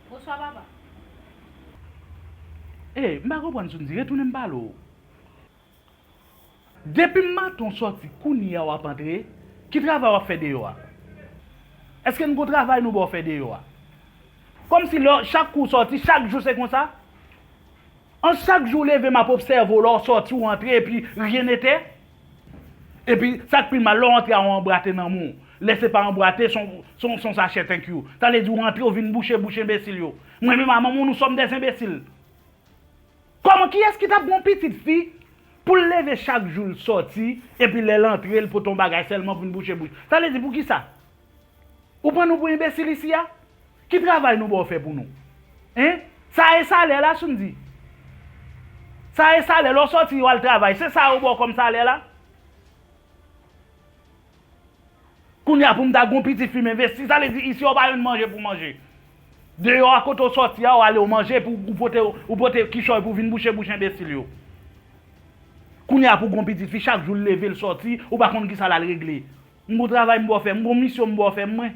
Bonswa papa. Hey m pa konprann sou n di retounen m pale w. Depim maten w sòti kounyea wap antre ki travay wap fè deyò a? Eske n gon travay nou baw fè deyò a? Kòmsi lè chak kou w sòti chak jou se konsa? An chak jou w leve map obsève w lè w sòti w antre epi ryen etè? Epi sak pi mal lè w antre a ou anbrate nan moun lè se pa anbrate son sachè thank you ta vle di ou antre ou vin bouche bouch enbesil yo mwen menm a manman w nou sòm des enbesil kòman kiyès ki tap gen yon pitit fi pou l leve chak jou l sòti epi lè l antre l pote yon bagay sèlman pou vin bouche bouch ta vle di poukisa. Ou pran nou pou enbesil isi a? Ki travay nou ba w fè pou nou? Hein? Sa e salè la sou m di? Sa e salè lè w sòti w al travay se sa yo ba w kòm salè la? Kounya pou m ta gen yon piti fi m envesti sa vle di isi a w pa jwenn manje pou w manje. Deyò a kote w sòti a w ale w manje epi w pote w pote kichòy pou w vin bouche bouch enbesil yo. Kounya pou w gen yon piti fi chak jou l leve l sòti ou pa konn kisa l al regle. M gon travay m bò fè. M gon misyon m bò fè mwen.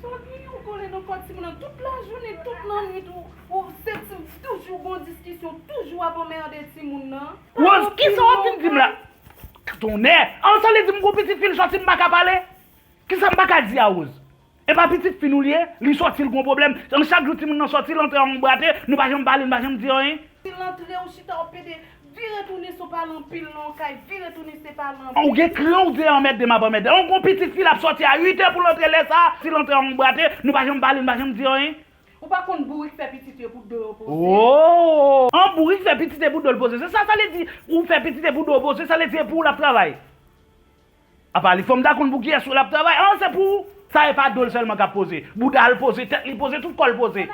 Sa gen yon kole nan kò timoun nan tout lajounen, tout lannwit ou se ti toujou gon diskisyon, toujou ap anmerde timoun nan. Rose, kisa wap fin dim la? Tonnè! An sa vle di m gon pitit fi l sòti m paka pale? Kisa m paka di a Rose? Epa pitit fi nou li ye, li sòti l gon pwoblèm, an chak jou timoun nan sòti l antre an anbrate, nou pa janm pale nou pa janm di anyen. Si l antre ou chita wap pede, vire tounen son pale anpil nan yon kay, vire tounen se pale anpil. An ou gen kran ou di e anmède map anmède, an gon pitit fi lap sòti a 8 è pou l antre lè sa, si l antre an anbrate, nou pa janm pale nou pa janm di anyen. Ou pa konn bourik fè pitit yo pou do yo poze. Ooh! An bourik fè pitit e pou do l poze se sa, sa vle di ou fè pitit e pou do w poze sa vle di e pou ou lap travay. Apa li fòm ta konn pou kiyès ou lap travay an se pou ou sa e pa dol sèlman kap poze boudal poze tèt li poze tout kòl poze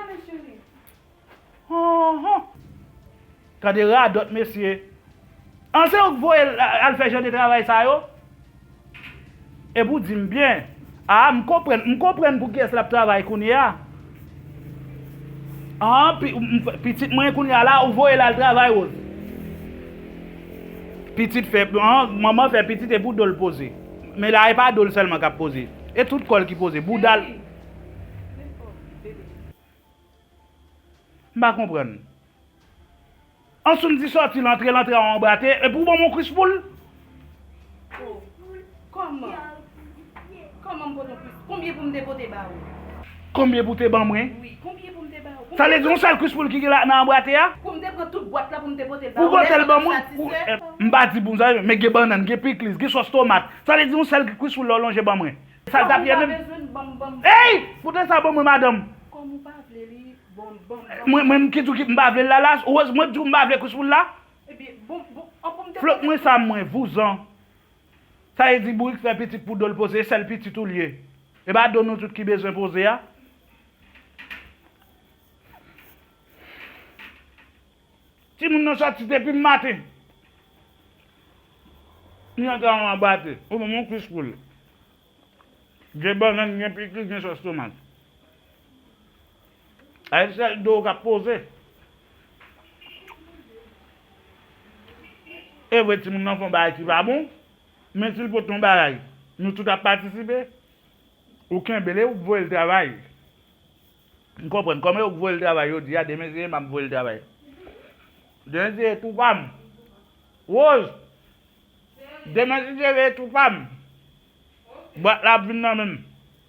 anhan gade radòt mesye an se ou k voyel al fè jan de travay sa yo epi ou dim byen. Ah m konprann m konprann pou kiyes lap travay kounye a ah pitit mwen kounye a la ou voyel al travay Rose pitit fè ah manman fè pitit epou dol poze men la epa dol selman kap poze e tout kòl ki poze boudal m pa konprann. Ansoum di sòti lantre lantre a anba te epi ou banm yon kwis poul. Oh kòman kòman m pot yon kwis konbyen pou m te pote ba ou. Konbyen pou te ban mwen. Wi konbyen pou m te ba ou. Sa vle di yon sèl kwis poul ki gen la nan anba te a. Pou m te pran tout bwat la pou m te pote l ba ou lè sa tap satisfè. M pa di pou m sa men gen bannann gen pikliz gen sòs tomat sa vle di yon sèl kwis poul la ou lonje ban mwen. Sa l tap ye menm. Kòm ou pa bezwen l banm banm. Eyy! Pote sa ban mwen madanm. Kòm ou pa vle li. Mwen menm ki tou ki m pa vle lala rose mwen tou m pa vle kous pou l la flop mwen sa mwen vouzan sa e di bourik fè pitit pou dol poze e sèl pitit ou l ye e pa do nou tout ki bezwen poze a. Timoun nan sòti depi m maten li antre anba tè ou ban m yon kous pou l. Gen bannann gen pikliz gen sòs tomat. A yon sèl do kap poze. Evre timoun nan fè yon bagay ki pa bon men sil pote yon bagay nou tout ap patisipe ou kenbel eou k voyel travay m konprann kòm eou k voyel travay jodia demen se emma k voyel travay demen se tou pam Rose Demen si se veye tou pam. Bwat la ap vin nan menm.